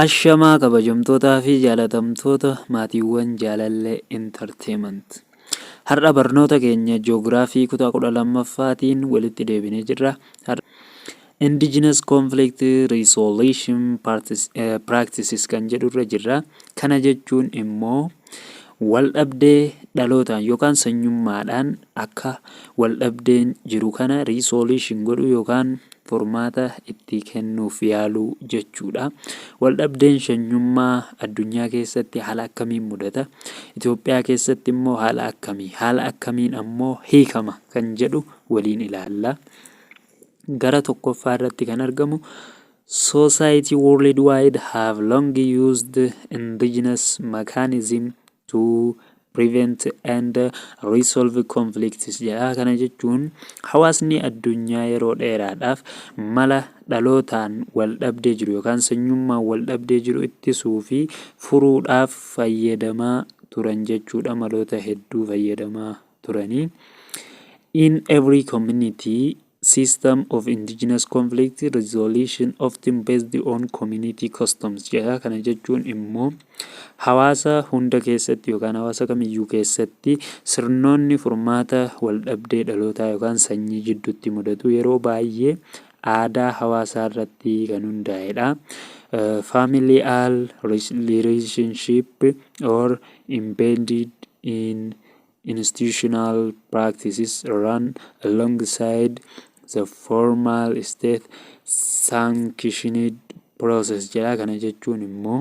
Ashamaa kabajamtootaa fi jaalatamtoota maatiiwwan Jaalallee Entertainment. Har'a barnoota keenya Joogiraafii kutaa 12ffaatiin walitti deebinee jirra. Indigenous Conflict Resolution Practices kan jedhurra jirra. Kana jechuun immoo Waldhabdee dhalootaan yookaan sanyummaadhaan akka waldhabdeen jiru kana resolution godhuu yookaan furmaata itti kennuuf yaaluu jechuudha. Waldhabdeen sanyummaa addunyaa keessatti haala akkamiin mudata? Itoophiyaa keessatti immoo haala akkamii? Haala akkamiin ammoo hiikama kan jedhu waliin ilaalla. Gara tokkoffaa irratti kan argamu Society worldwide have long used indigenous mechanism to prevent and resolve conflicts jedha. Kana jechuun hawaasni addunyaa yeroo dheeraadhaaf mala dhalootaan wal dhabdee jiru yookaan sanyummaan wal dhabdee jiru ittisuu fi furuudhaaf fayyadamaa turan jechuudha. Maloota hedduu fayyadamaa turanii. In every community System of Indigenous Conflict Resolution often based on community customs jedha. Kana jechuun immoo hawaasa hunda keessatti yookaan hawaasa kamiyyuu keessatti sirnoonni furmaata waldhabdee dhalootaa yookaan sanyii jidduutti mudatu yeroo baay'ee aadaa hawaasaa irratti kan hundaa'edha. Uh, familial relationship or embedded in institutional practices run alongside the formal state sanctioned process jedha. Kana jechuun immoo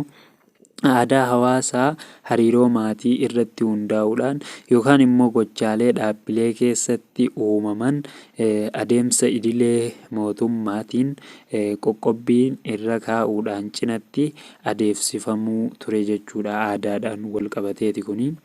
aadaa hawaasaa hariiroo maatii irratti hundaa'uudhaan yookaan immoo gochaalee dhaabbilee keessatti uumaman adeemsa idilee mootummaatiin qoqqobbiin irra kaa'uudhaan cinatti adeemsifamuu ture jechuudha aadaadhaan wal qabateeti kuni.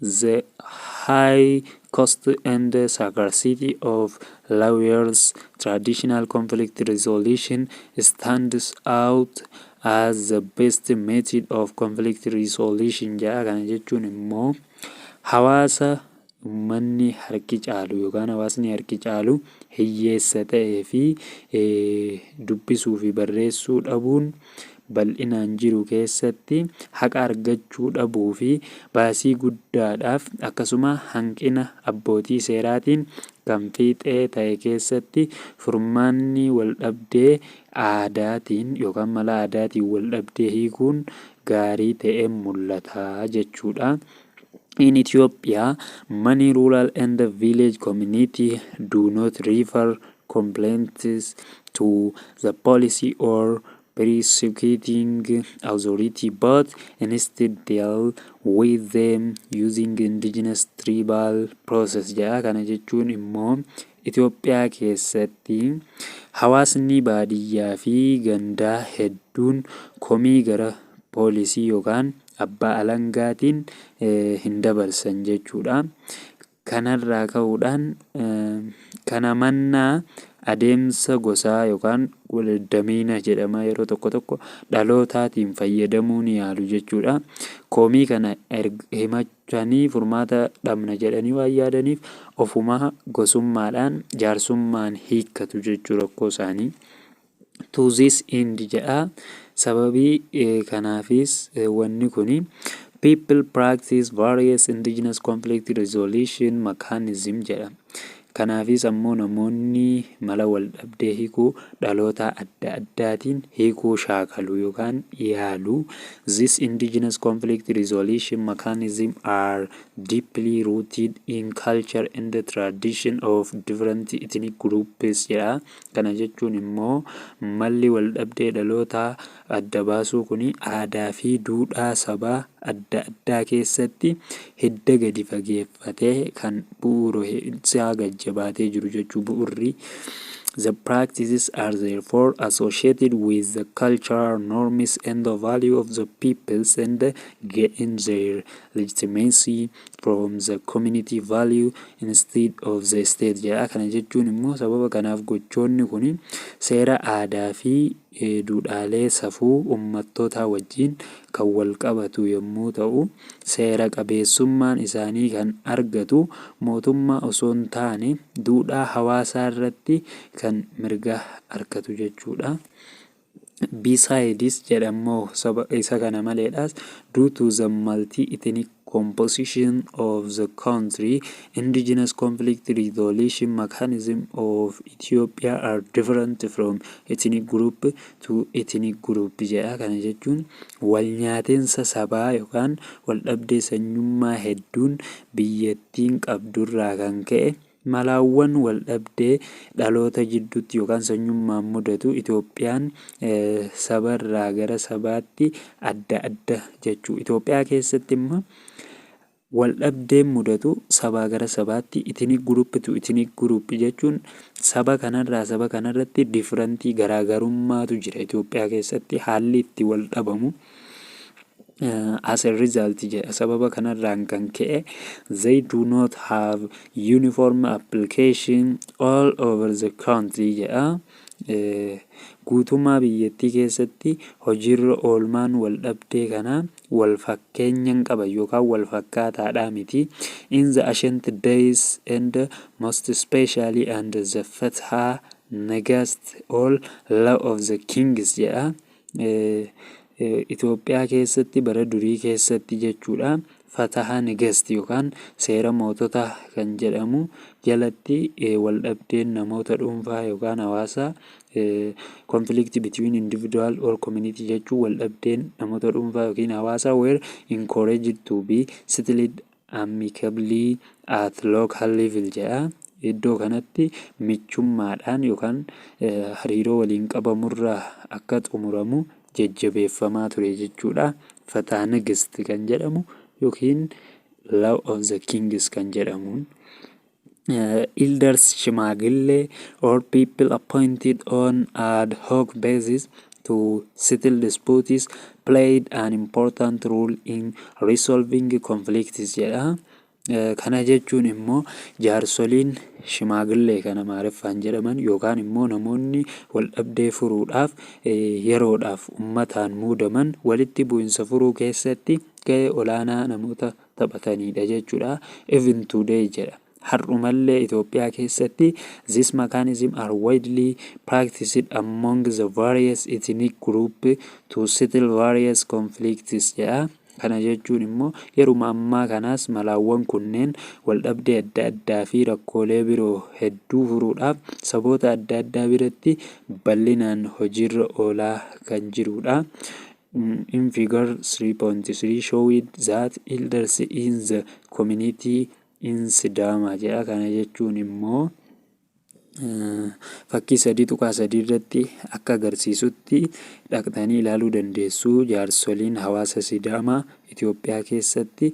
The High Cost and Scarcity of Lawyers, Traditional Conflict Resolution Stands Out as the Best Method of Conflict Resolution jedha. Kana jechuun immoo hawaasa ummanni harki caalu yookaan hawaasni harki caalu hiyyeessa ta'ee fi dubbisuu fi barreessuu dhabuun bal'inaan jiru keessatti haqa argachuu dhabuu fi baasii guddaadhaaf akkasuma hanqina abbootii seeraatiin kan fiixee ta'e keessatti furmaanni waldhabdee aadaatiin yookaan mala aadaatiin waldhabdee hiikuun gaarii ta'e mul'ata jechuudha. In Ethiopia, many rural and village community do not refer complaints to the policy or prosecuting authority but instead deal with them using indigenous tribal process jedha kana jechuun immoo Itoophiyaa keessatti hawaasni baadiyyaa fi gandaa hedduun komii gara poolisii yookaan abbaa alangaatiin hin dabarsan jechuudha. Kanarraa ka'uudhaan, kana mannaa adeemsa gosaa yookaan waldamiina jedhama yeroo tokko tokko dhalootaatiin fayyadamuu ni yaalu jechuudha. Komii kana erga himachanii furmaata dhabna jedhanii waan yaadaniif ofumaa gosummaadhaan jaarsummaan hiikkatu jechuu rakkoo isaanii. to this end jedha. Sababii kanaafis wanni kun people practice various indigenous conflict resolution mechanism jedha. Kanaafis ammoo namoonni mala waldhabdee hiikuu dhaloota adda addaatiin hiikuu shaakalu yookaan yaalu. This indigenous conflict resolution mechanism are deeply rooted in culture and tradition of different ethnic groups jedha. Kana jechuun immoo malli waldhabdee dhalootaa adda baasuu kuni aadaafi duudhaa sabaa adda addaa keessatti hidda gadi fageeffatee kan bu'uura'e isaa gad jabaatee jiru jechuu bu'urri The practices are therefore associated with the cultural norms and the value of the peoples and gain their legitimacy from the community value instead of the state jedha. Kana jechuun immoo sababa kanaaf gochoonni kun seera aadaa fi duudhaalee safuu ummattootaa wajjin kan wal qabatu yommuu ta'u, seera qabeessummaan isaanii kan argatu mootummaa osoo hin taane duudhaa hawaasaarratti kan mirga arkatu jechuudha. Besides jedhan moo isa kana maleedhaas due to the multi-ethnic composition of the country, indigenous conflict resolution mechanism of Ethiopia are different from ethnic group to ethnic group jedha. Kana jechuun wal nyaatinsa sabaa yookaan wal dhabdee sanyummaa hedduun biyyattiin qabdurraa kan ka'e Malawwan waldhabdee dhaloota jidduutti yookaan sanyummaan mudatu Itoophiyaan saba irraa gara sabaatti adda adda jechuu. Itoophiyaa keessatti imma waldhabdeen mudatu sabaa gara sabaatti ethnic group to ethnic group jechuun saba kanarraa saba kanarratti differentii garaagarummaatu jira Itoophiyaa keessatti haalli itti waldhabamu. As a result jedha. Sababa kanarraan kan ka'e they do not have uniform application all over the country jedha. Eh, Guutummaa biyyattii keessatti hojiirra oolmaan wal dhabdee kanaa wal fakkeenya hin qaban yookaan wal fakkaataadhaa miti. In the ancient days and most especially under the Fatha Nagast all law of the kings jedha. Itoophiyaa keessatti bara durii keessatti jechuudha fataha negast yookaan seera mootota kan jedhamu jalatti waldhabdeen namoota dhuunfaa yookaan hawaasaa conflict between individual or community jechuun waldhabdeen namoota dhuunfaa yookiin hawaasaa were encouraged to be settled amicably at local level jedha. Iddoo kanatti michummaadhaan yookaan hariiroo waliin qabamurra akka xumuramu jajjabeeffamaa ture jechuudha. Fataa Nigist kan jedhamu yookiin Law of the Kings kan jedhamuun. Elders, Shimaagilee, or people appointed on ad hoc basis to settle disputes played an important role in resolving conflicts jedha. Eh, Kana jechuun immoo jaarsoliin shimaagilee kan amaariffaan jedhaman yookaan immoo namoonni wal dhabdee furuudhaaf eh, yeroodhaaf ummataan muudaman walitti bu'insa furuu keessatti ga'ee olaanaa namoota taphataniidha jechuudha. Even today jedha. Har'umallee Itoophiyaa keessatti this mechanism are widely practiced among the various ethnic group to settle various conflicts jedha. Kana jechuun immoo yeruma ammaa kanaas malaawwan kunneen waldhabdee adda addaa fi rakkoolee biroo hedduu furuudhaaf saboota adda addaa biratti bal'inaan hojiirra oolaa kan jirudha. In Figure 3.3 showed that elders in the community in Sidaama jedha. Kana jechuun immoo fakkii sadii tuqaa sadii irratti akka agarsiisutti dhaqxanii ilaaluu dandeessu jaarsoliin hawaasa Sidaamaa Itoophiyaa keessatti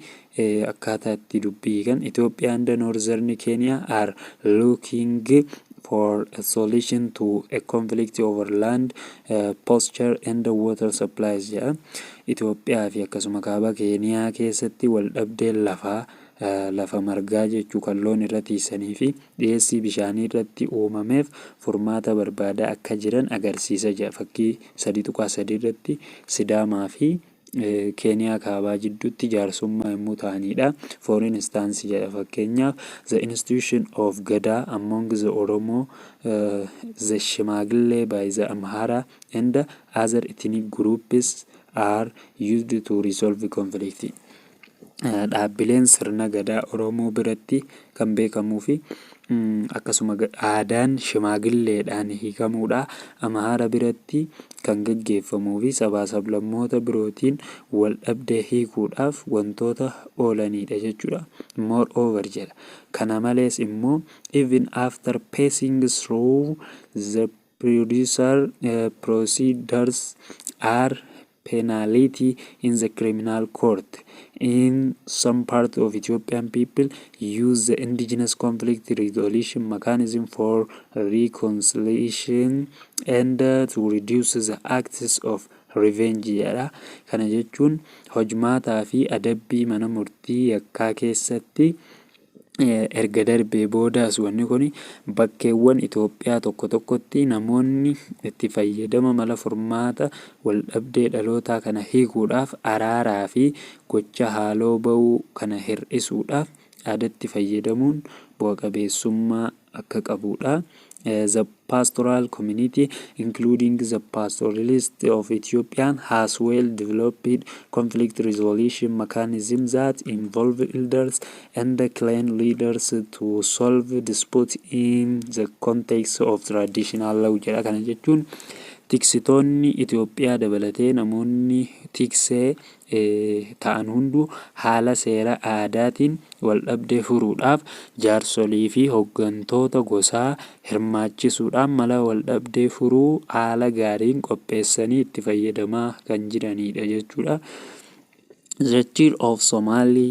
Akkaataa itti dubbii hiikan Ethiopia and Northern Kenya are looking for a solution to a conflict over land, uh, posture and water supplies jedha. Itoophiyaa fi akkasuma kaaba Keeniyaa keessatti wal dhabdeen lafaa uh, lafa margaa jechuu kan loon irra tiisanii fi dhiyeessii bishaanii irratti uumameef furmaata barbaadaa akka jiran agarsiisa jedha. Fakkii 3.3 irratti Sidaamaa fi Keeniyaa Kaabaa jidduutti jaarsummaa yommuu ta'aniidha. For instance jedha fakkeenyaaf the institution of Gadaa among the Oromo the Shimaagillee by the Amhara and other ethnic groups are used to resolve conflict. dhaabbileen sirna Gadaa Oromoo biratti kan beekamuufi akkasuma aadaan shimaagilleedhaan hiikamuudha. Amaara biratti kan gaggeeffamuufi sabaa sablammoota birootiin wal dhabdee hiikuudhaaf wantoota oolaniidha jechuudha. Moreover jedha. Kana malees immoo even after passing through the producer uh, procedures are penality in the criminal court in some parts of Ethiopian people use the indigenous conflict resolution mechanism for reconciliation and to reduce the acts of revenge jedha. Kana jechuun hojmaataa fi adabbii mana murtii yakkaa keessatti erga darbee boodaas wanni kun bakkeewwan Itoophiyaa tokko tokkotti namoonni itti fayyadama mala furmaata waldhabdee dhalootaa kana hiikuudhaaf araaraa fi gocha haaloo ba'uu kana hir'isuudhaaf aadatti fayyadamuun bu'a qabeessummaa akka qabu dha. The pastoral community, including the pastoralists of Ethiopia, has well developed conflict resolution mechanisms that involve elders and clan leaders to solve disputes in the context of traditional law jedha. Kana jechuun tiksitoonni Itoophiyaa dabalatee namoonni tiksee ta'an hunduu haala seera aadaatiin waldhabdee furuudhaaf jaarsoliifi hoggantoota gosaa hirmaachisuudhaan mala waldhabdee furuu haala gaariin qopheessanii itti fayyadamaa kan jiraniidha jechuudha. The Chill of Somali.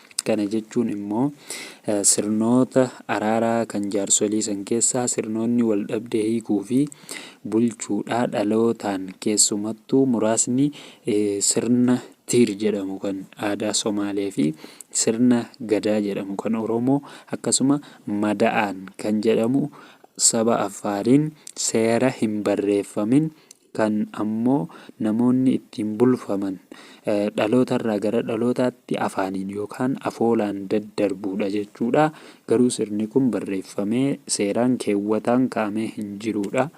Kana jechuun immoo sirnoota araaraa kan jaarsolii san keessaa sirnoonni waldhabdee hiikuu fi bulchuudhaa dhalootaan keessumattuu muraasni sirna Tiir jedhamu kan aadaa Somaalee fi sirna Gadaa jedhamu kan Oromoo akkasuma Mada'aan kan jedhamu saba Affaariin seera hin barreeffamin kan ammoo namoonni ittiin bulfaman dhalootarraa gara dhalootaatti afaaniin yookaan afoolaan daddarbuudha jechuudha. Garuu sirni kun barreeffamee seeraan keewwataan ka'amee hin jiruudha.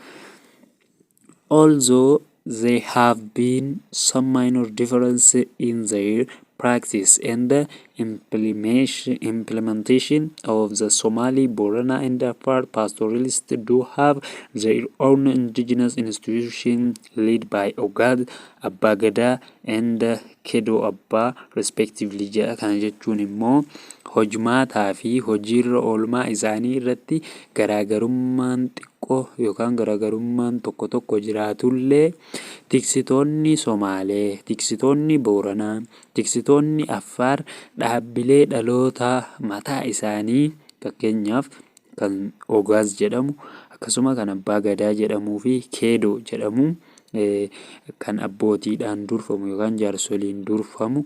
Although there have been some minor differences in their practice and implementation of the Somali, Borana and Afar pastoralists do have their own indigenous institution led by Ogad, Abba Gada and Kedo Abba respectively jedha. Kana jechuun immoo hojmaataa fi hojiirra oolmaa isaanii irratti garaagarummaan xiqqoo yookaan garaagarummaan tokko tokko jiraatullee Tiksitoonni Somaalee, tiksitoonni Booranaa, tiksitoonni Affaar dhaabbilee dhalootaa mataa isaanii fakkeenyaaf kan Ogaaz jedhamu akkasuma kan Abbaa Gadaa jedhamuu fi Keedoo jedhamu kan abbootiidhaan durfamu yookaan jaarsoliin durfamu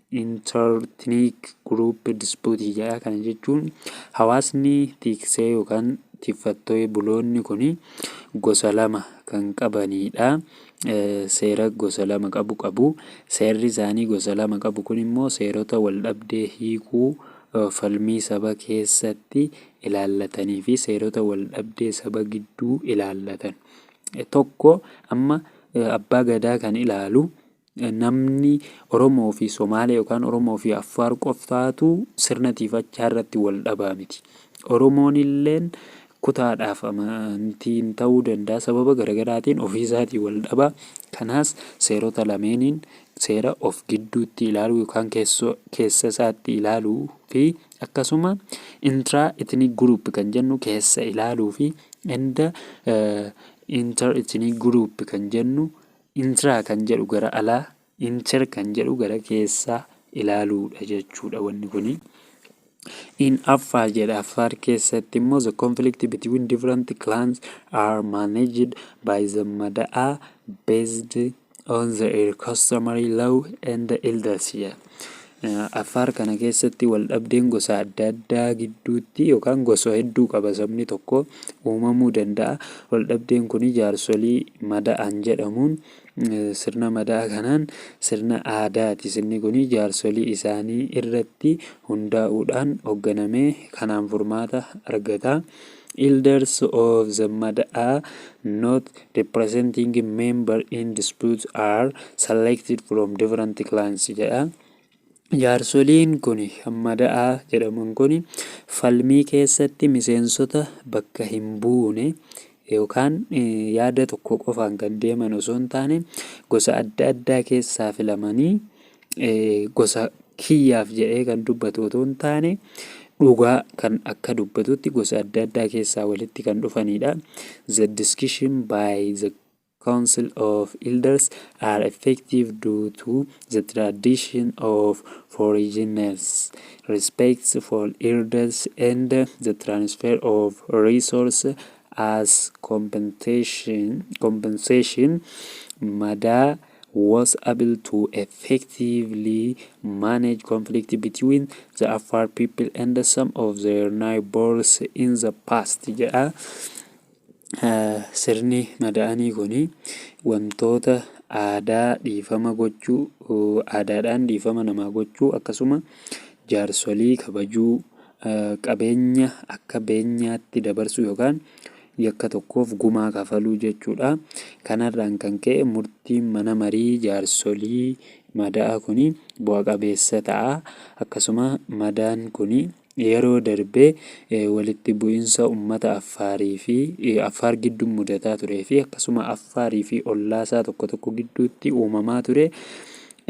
Interethnic Group Dispute jedha. Kana jechuun hawaasni tiksee yookaan tiffattoe buloonni kun gosa lama kan qabanidha. Seera gosa lama qabu qabu. Seerri isaanii gosa lama qabu kun immoo seerota wal dhabdee hiikuu falmii saba keessatti ilaallatanii fi seerota wal dhabdee saba gidduu ilaallatan. Tokko amma abbaa gadaa kan ilaalu Namni Oromoo fi Somaalee yookaan Oromoo fi Affaar qoftaatu sirna tiifachaa irratti wal dhabaa miti. Oromoon illeen kutaadhaaf amantiin ta'uu danda'a sababa garagaraatiin ofiisaatii wal dhabaa. Kanaas seerota lameeniin seera of gidduutti ilaaluu yookaan keessa isaatti ilaaluu fi akkasuma intra ethnic group kan jennu keessa ilaaluu fi inda inter ethnic group kan jennu Intra kan jedhu gara alaa, inter kan jedhu gara keessaa ilaaluudha jechuudha wanni kuni. In Affaar jedha Affaar keessatti immoo the conflict between different clans are managed by the Mada'aa based on their customary law and elders jedha. Affaar kana keessatti waldhabdeen gosa adda addaa gidduutti yookaan gosa hedduu qaba sabni tokko uumamuu danda'a. Waldhabdeen kun jaarsolii mada'an jedhamuun sirna mada'a kanaan sirna aadaati. Sirni kun jaarsolii isaanii irratti hundaa'uudhaan hoogganamee kanaan furmaata argata. Elders of the Mada'a not representing member in dispute are selected from different clans jedha. Jaarsoliin kun mada'a jedhaman kun falmii keessatti miseensota bakka hin buune yookaan yaada tokko qofaan kan deeman osoo hin taane gosa adda addaa keessaa filamanii gosa kiyyaaf jedhee kan dubbatu otoo hin taane dhugaa kan akka dubbatutti gosa adda addaa keessaa walitti kan dhufanidha. The discussion by the Council of Elders are effective due to the tradition of foreigners, respect for elders, and the transfer of resource as compensation, compensation madaa was able to effectively manage conflict between the Afar people and some of their neighbors in the past jedha. Sirni mada'anii kun wantoota aadaa dhiifama gochuu aadaadhaan dhiifama namaa gochuu akkasuma jaarsolii kabajuu qabeenya akka beenyaatti dabarsuu yookaan yakka tokkoof gumaa kafaluu jechuu dha. Kanarraan kan ka'e murtiin mana marii jaarsolii mada'aa kun bu'a qabeessa ta'a. Akkasuma madaan kun yeroo darbe walitti bu'insa ummata Affaarii fi Affaar giddu mudataa turee fi akkasuma Affaarii fi ollaasaa tokko tokko gidduutti uumamaa ture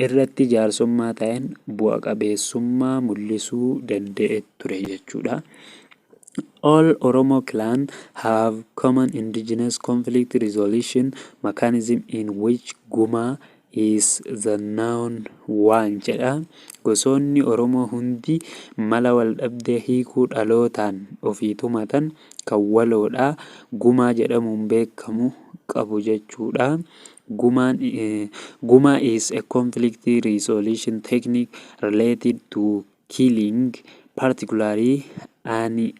irratti jaarsummaa taa'een bu'a qabeessummaa mul'isuu danda'e ture jechuudha. All Oromo clan have common indigenous conflict resolution mechanism in which Guma is the known one jedha. Gosoonni Oromoo hundi mala waldhabdee hiikuu dhalootaan ofii tumatan kan waloodha. Gumaa jedhamuun beekamu qabu jechuudha. Gumaan, eh, Guma is a conflict resolution technique related to Killing, particularly an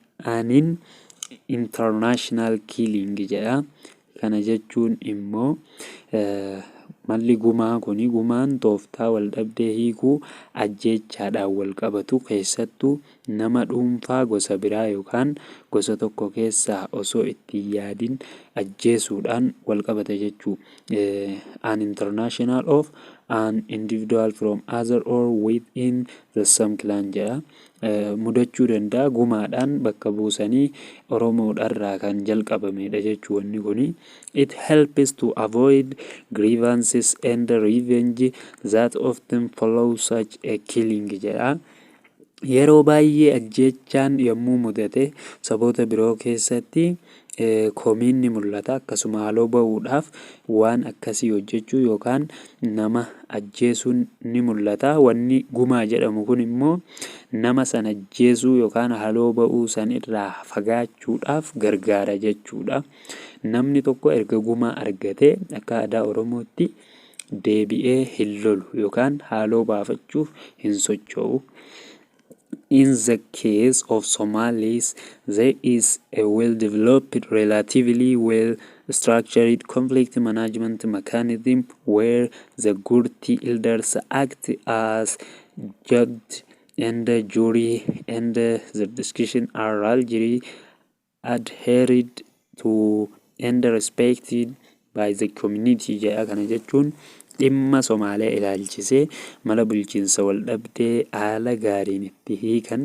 international killing jedha. Kana jechuun immoo malli gumaa kun gumaan tooftaa waldhabdee hiikuu ajjeechaadhaan walqabatu keessattuu nama dhuunfaa gosa biraa yookaan gosa tokko keessaa osoo itti hin yaadin ajjeesuudhaan walqabata jechuudha. an international of an individual from other or within the same clan jedha. Eh, mudachuu danda'a gumaadhaan bakka buusanii Oromoodharraa kan jalqabamedha jechuu wanni kuni. It helps to avoid grievances and revenge that often follow such a killing jedha. Yeroo baay'ee ajjeechaan yommuu mudate saboota biroo keessatti komiin ni mul'ata. Akkasuma haaloo ba'uudhaaf waan akkasii hojjechuu yookaan nama ajjeesuun ni mul'ata. Wanni gumaa jedhamu kun immoo nama san ajjeesuu yookaan haaloo ba'uu san irraa fagaachuudhaaf gargaara jechuudha. Namni tokko erga gumaa argatee akka aadaa Oromootti Deebi'ee hin lolu yookaan haaloo baafachuuf hin socho'u. In the case of Somalis, there is a well-developed, relatively well-structured conflict management mechanism where the Gurti elders act as judge and jury and the discussion are largely adhered to and respected by the community jedha kana jechuun dhimma Somaalee ilaalchisee mala bulchiinsa waldhabdee haala gaariin itti hiikan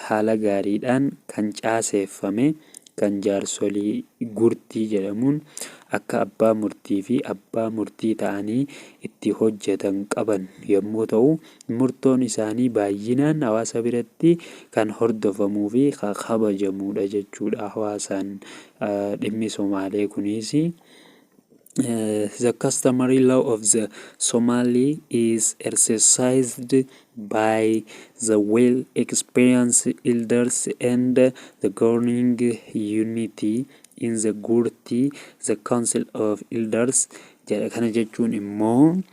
haala gaariidhaan kan caaseeffame kan jaarsolii gurtii jedhamuun akka abbaa murtii fi abbaa murtii ta'anii itti hojjetan qaban yommuu ta'u Murtoon isaanii baay'inaan hawaasa biratti kan hordofamuu fi kan kabajamuu dha jechuu dha hawaasaan dhimmi Somaalee kunis. The customary law of the Somali is exercised by the well experienced elders and the governing unity in the Gurti, the council of elders jedha. Kana jechuun immoo.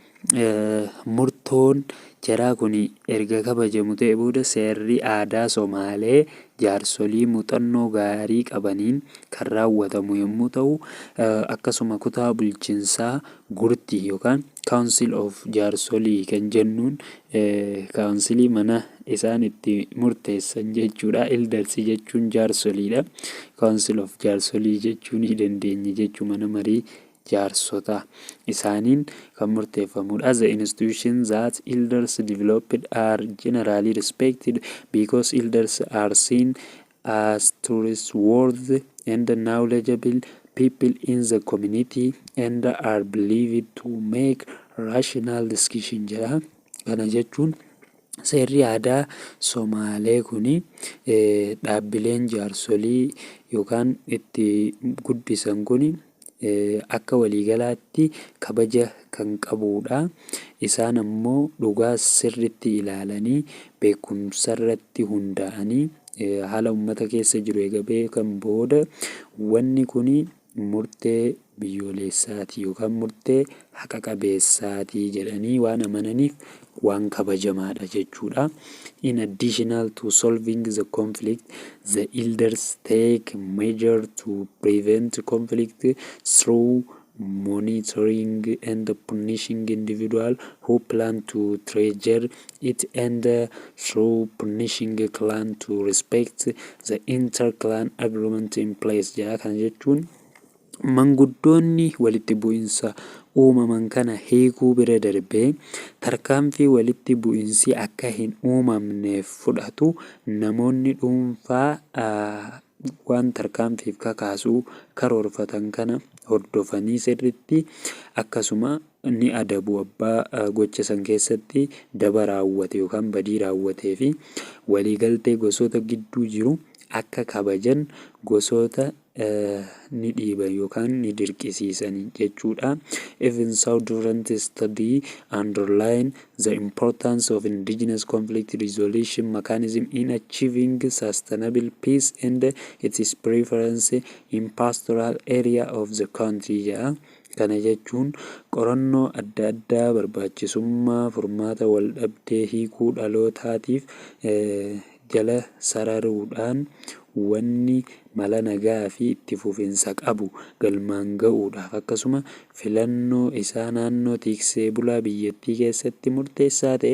Murtoon jaraa kun erga kabajamu ta'e booda seerri aadaa Somaalee jaarsolii muuxannoo gaarii qabaniin kan raawwatamu yommuu ta'u, akkasuma kutaa bulchinsaa Gurti yookaan Council of Jaarsoli kan jennuun kaawunsilii mana isaan itti murteessan jechuudha. Elders jechuun jaarsoliidha. Council of Jaarsolii jechuu ni dandeenya jechuu mana marii jaarsota, isaaniin kan murteeffamu dha. The institutions that elders developed are generally respected because elders are seen as trustworthy and knowledgeable people in the community and are believed to make rational decisions jedha. Kana jechuun seerri aadaa Somaalee kun dhaabbileen jaarsolii yookaan itti guddisan kun akka waliigalaatti kabaja kan qabuudha. Isaan ammoo dhugaa sirriitti ilaalanii, beekumsarratti hundaa'anii, haala ummata keessa jiru eega beekan booda wanni kuni murtee biyyooleessaati yookaan murtee haqa qabeessaati jedhanii waan amananiif waan kabajamaadha jechuudha. In additional to solving the conflict, the elders take measure to prevent conflict through monitoring and punishing individual who plan to treasure it and through punishing clan to respect the inter-clan agreement in place jedha. Kana jechuun Manguddoonni walitti bu'insa uumaman kana hiikuu bira darbee tarkaanfii walitti bu'insi akka hin uumamneef fudhatu namoonni dhuunfaa waan tarkaanfiif kakaasu karoorfatan kana hordofanii sirriitti akkasuma ni adabu abbaa gocha san keessatti daba raawwate yookaan badii raawwatee fi waliigaltee gosoota gidduu jiru akka kabajan gosoota ni dhiiba yookaan ni dirqisiisan jechuudha. Even so durant study underline the importance of indigenous conflict resolution mechanism in achieving sustainable peace and its preference in pastoral area of the country jedha. Kana jechuun qorannoo adda addaa barbaachisummaa furmaata waldhabdee hiikuu dhalootaatiif jala sararuudhaan wanni mala nagaa fi itti fufinsa qabu galmaan ga'uudhaaf akkasuma filannoo isaa naannoo tiiksee bulaa biyyattii keessatti murteessaa ta'e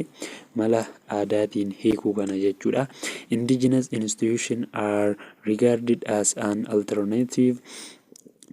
mala aadaatiin hiikuu kana jechuu dha. Indigenous institutions are regarded as an alternative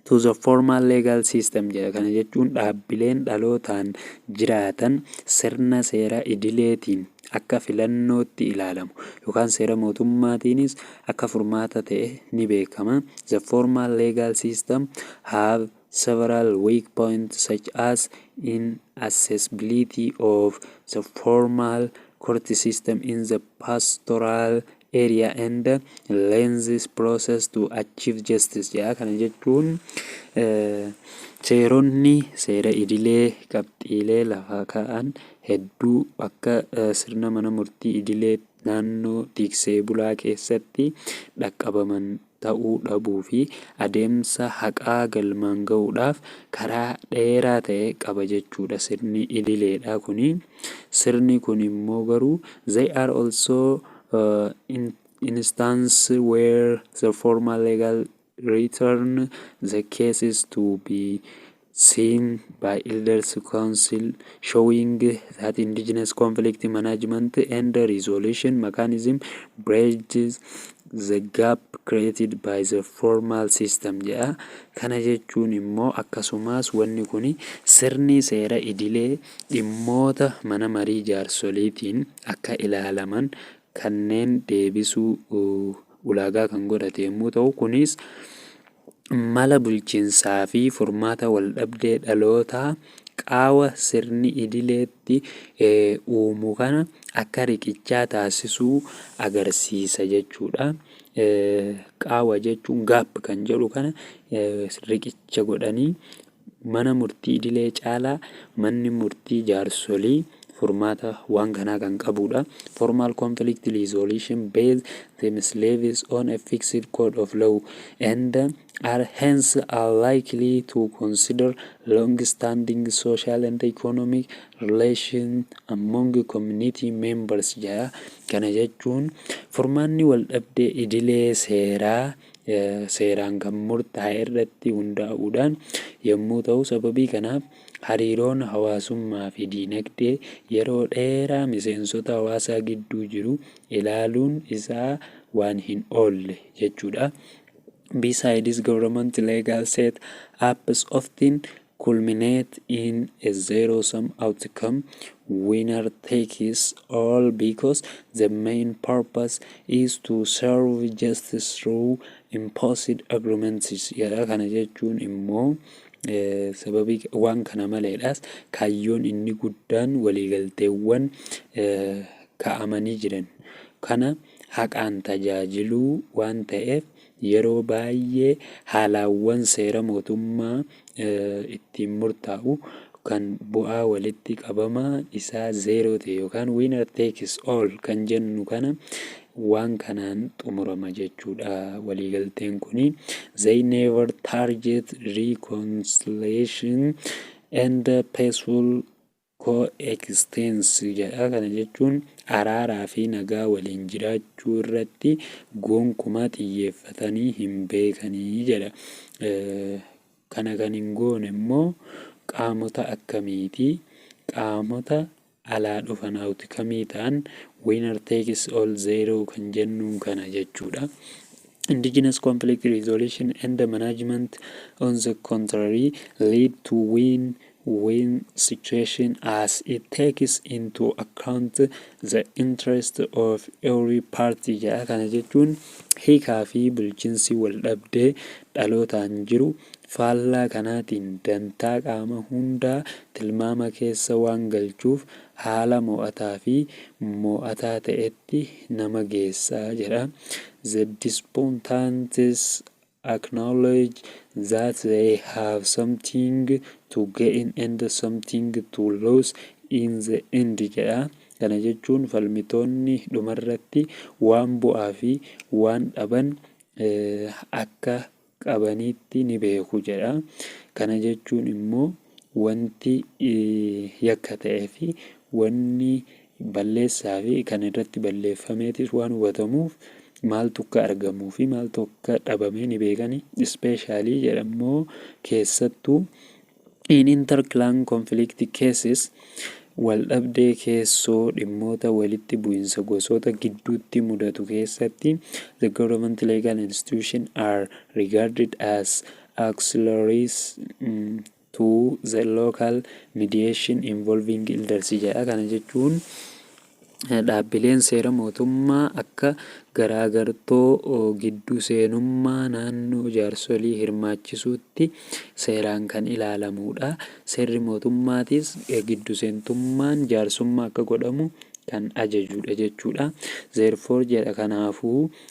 to the formal legal system jedha. Kana jechuun dhaabbileen dhalootaan jiraatan sirna seera idileetiin akka filannootti ilaalamu yookaan seera mootummaatiinis akka furmaata ta'e ni beekama. The formal legal system have several weak points such as inaccessibility of the formal court system in the pastoral area and lenses process to achieve justice jedha. Kana jechuun seeronni seera idilee qabxiilee lafa ka'an hedduu akka sirna mana murtii idilee naannoo tiksee bulaa keessatti dhaqqabaman ta'uu dhabuu fi adeemsa haqaa galmaan ga'uudhaaf karaa dheeraa ta'e qaba jechuu dha sirni ililee dha kun. Sirni kun immoo garuu They are also instances where the formal legal return the cases to be Seen by Elders Council showing that indigenous conflict management and resolution mechanism bridges the gap created by the formal system jedha. Kana jechuun immoo akkasumas wanni kun sirni seera idilee dhimmoota mana marii jaarsoliitiin akka ilaalaman kanneen deebisuu ulaagaa kan godhate yommuu ta'u kunis mala bulchinsaa fi furmaata waldhabdee dhalootaa qaawa sirni idileetti uumu kana akka riqichaa taasisuu agarsiisa jechuudha. Qaawa jechuun gaap kan jedhu kana riqicha godhanii Mana Murtii Idilee caalaa Manni Murtii Jaarsolii furmaata waan kanaa kan qabuudha. Formal conflict resolution based themsleves on a fixed code of law and are hence unlikely to consider long-standing social and economic relation among community members jedha. Kana jechuun furmaanni waldhabdee idilee seeraa seeraan kan murtaa'e irratti hundaa'uudhaan yommuu ta'u sababii kanaaf hariiroon hawaasummaa fi diinagdee yeroo dheeraa miseensota hawaasaa gidduu jiru ilaaluun isaa waan hin oolle jechuudha. Besides government legal set ups often culminate in a zero sum outcome, winner takes all because the main purpose is to serve justice through imposed agreements jedha. Kana jechuun immoo sababii waan kana maleedhaas kaayyoon inni guddaan waliigalteewwan kaa'amanii jiran kana haqaan tajaajiluu waan ta'eef Yeroo baayyee haalaawwan seera mootummaa ittiin murtaa'u kan bu'aa walitti qabama isaa zeeroo ta'e yookaan winner takes all kan jennu kana waan kanaan xumurama jechuudha waliigalteen kun. They never target reconciliation and peaceful Co-extense jedha. Kana jechuun araaraa fi nagaa waliin jiraachuu irratti gonkumaa xiyyeeffatanii hin beekani jedha. Kana kan hin goone immoo qaamota akkamiiti? Qaamota alaa dhufan outcomee ta'an winner takes all zero kan jennuun kana jechuudha. Indigenous conflict resolution and management on the contrary lead to win when situation as it takes into account the interest of every party jedha. Kana jechuun hiikaa fi bulchinsi wal dhabdee dhalootaan jiru faallaa kanaatiin dantaa qaama hundaa tilmaama keessa waan galchuuf haala mo'ataa fi mo'ataa ta'etti nama geessa jedha. The dispuntants acknowledge that they have something to gain and something to lose in the end jedha. Kana jechuun falmitoonni dhumarratti waan bu'aa fi waan dhaban akka qabaniitti ni beeku jedha. Kana jechuun immoo. wanti yakka ta'ee fi wanni balleessaa fi kan irratti balleeffameetis waan hubatamuuf maaltu akka argamuu fi maaltu akka dhabamee ni beekani. Ispeeshaalii jedhammoo keessattuu in interclan conflict cases waldhabdee keessoo dhimmoota walitti bu'insa gosoota gidduutti mudatu keessatti the government legal institution are regarded as auxiliaries to the local mediation involving elders jedha. Kana jechuun dhaabbileen seera mootummaa akka garaagartoo gidduu seenummaa naannoo jaarsolii hirmaachisuutti seeraan kan ilaalamuudha. Seerri mootummaatis giddu seentummaan jaarsummaa akka godhamu kan ajajuudha jechuudha. Therefore jedha kanaafuu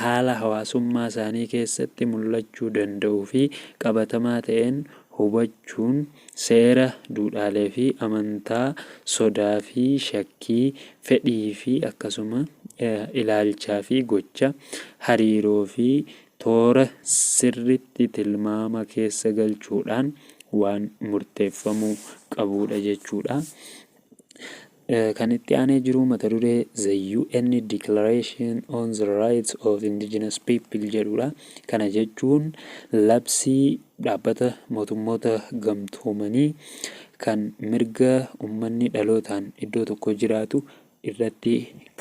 haala hawaasummaa isaanii keessatti mul'achuu danda'uu fi qabatamaa ta'een hubachuun seera, duudhaalee fi amantaa, sodaa fi shakkii, fedhii fi akkasuma ilaalchaa fi gocha, hariiroo fi toora sirriitti tilmaama keessa galchuudhaan waan murteeffamuu qabuudha jechuudha. Kan itti aanee jiru mata duree The UN Declaration on the Rights of Indigenous People jedhudha. Kana jechuun labsii dhaabbata mootummoota gamtoomanii kan mirga ummanni dhalootaan iddoo tokko jiraatu irratti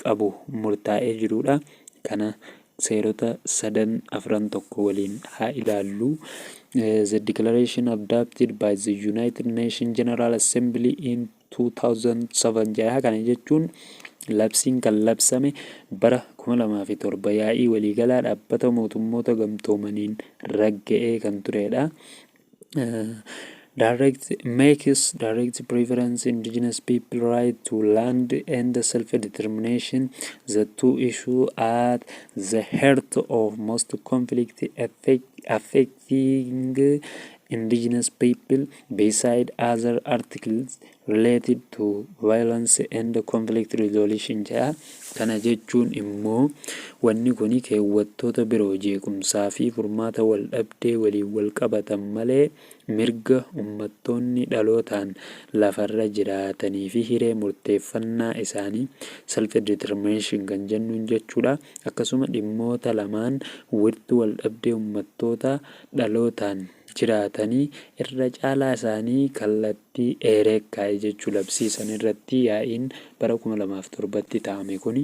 qabu murtaa'ee jirudha. Kana seerota sadan afran tokko waliin haa ilaallu. The Declaration adopted by the United Nations General Assembly in 2007 jaha kana jechuun labsiin kan labsame bara 2007 yaa'ii waliigalaa dhaabbata mootummoota gamtoomaniin ragga'ee kan turedha. direct makes direct preference indigenous people right to land and self determination the two issue at the heart of most conflict affect, affect Seeing indigenous people beside other articles related to violence and conflict resolution jedha. Kana jechuun immoo wanni kuni keewwattoota biroo jeequmsaa fi furmaata waldhabdee waliin walqabatan malee mirga ummattoonni dhalootaan lafarra jiraatanii fi hiree murteeffannaa isaanii, self-determination, kan jennuun jechuu dha. Akkasuma dhimmoota lamaan wirtuu waldhabdee ummattootaa dhalootaan jiraatanii irra caalaa isaanii kallattii eeree kaa'e jechuu labsii san irratti yaa'iin bara 2007 tti taa'ame kuni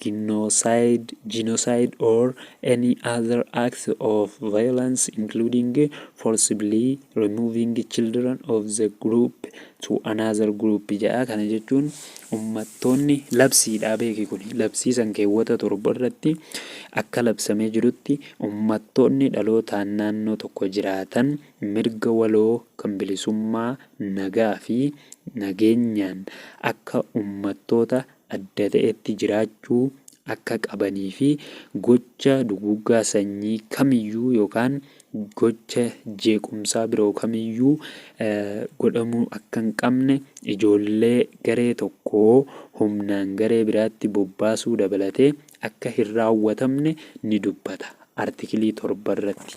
Ginnosaayid, Genocide or any other act of violence including forcibly removing children of the group to another group jedha. Kana jechuun ummattoonni labsiidhaa beeki kun labsii san keewwata torba irratti akka labsamee jirutti ummattoonni dhalootaan naannoo tokko jiraatan mirga waloo kan bilisummaa nagaa fi nageenyaan akka ummattoota adda ta'etti jiraachuu akka qabanii fi gocha duguuggaa sanyii kamiyyuu yookaan gocha jeequmsaa biroo kamiyyuu godhamuu akka hin qabne, ijoollee garee tokkoo humnaan garee biraatti bobbaasuu dabalatee akka hin raawwatamne ni dubbata, Artikilii 7 irratti.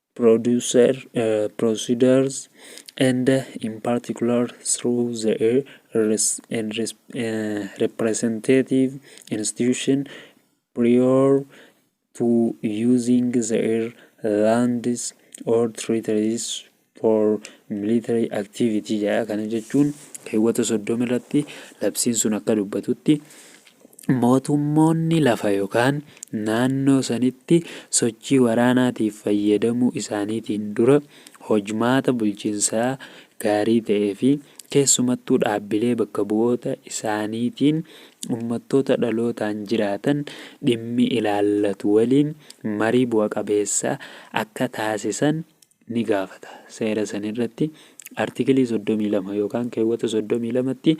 producer, procedures, and in particular through the res- and res- uh, representative institution prior to using their lands or territories for military activity jedha kana jechuun keewwata soddoma irratti labsiin sun akka dubbatutti Mootummoonni lafa yokaan naannoo sanitti sochii waraanaatiif fayyadamuu isaaniitiin dura hojmaata bulchinsaa gaarii ta'ee fi keessumattuu dhaabbilee bakka bu'oota isaaniitiin ummattoota dhalootaan jiraatan dhimmi ilaallatu waliin marii bu'a qabeessa akka taasisan ni gaafata. Seera san irratti Artikilii 32 yookaan keewwata 32tti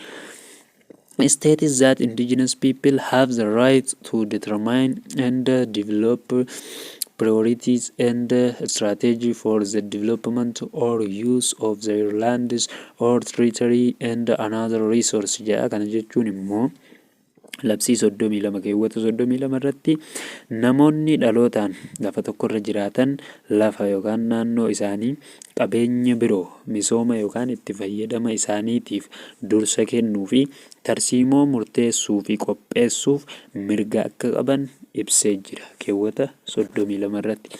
States that indigenous people have the right to determine and develop priorities and strategy for the development or use of their lands or territory and another resource jedha. Kana jechuun immoo Labsii 32 keewwata 32 irratti namoonni dhalootaan lafa tokkorra jiraatan lafa yookaan naannoo isaanii qabeenya biroo misooma yookaan itti fayyadama isaaniitiif dursa kennuu fi tarsiimoo murteessuu fi qopheessuuf mirga akka qaban ibsee jira keewwata 32 irratti.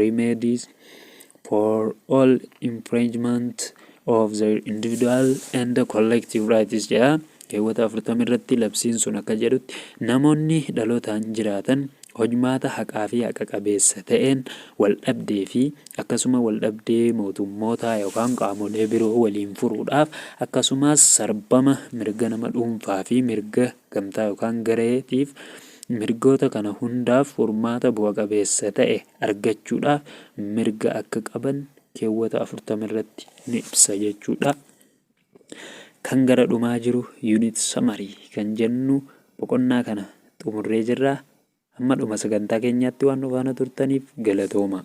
remedies for all infringement of their individual and collective rights jedha keewwata 40 irratti labsiin sun akka jedhutti namoonni dhalootaan jiraatan hojmaata haqaa fi haqa qabeessa ta'een waldhabdee fi akkasuma waldhabdee mootummootaa yookaan qaamolee biroo waliin furuudhaaf akkasumas sarbama mirga nama dhuunfaa fi mirga gamtaa yookaan gareetiif Mirgoota kana hundaaf furmaata bu'a qabeessa ta'e argachuudhaaf mirga akka qaban keewwata 40 irratti ni ibsa jechuu dha. Kan gara dhumaa jiru unit summary kan jennu boqonnaa kana xumurree jirra. Amma dhuma sagantaa keenyaatti waan nu faana turtaniif galatoomaa.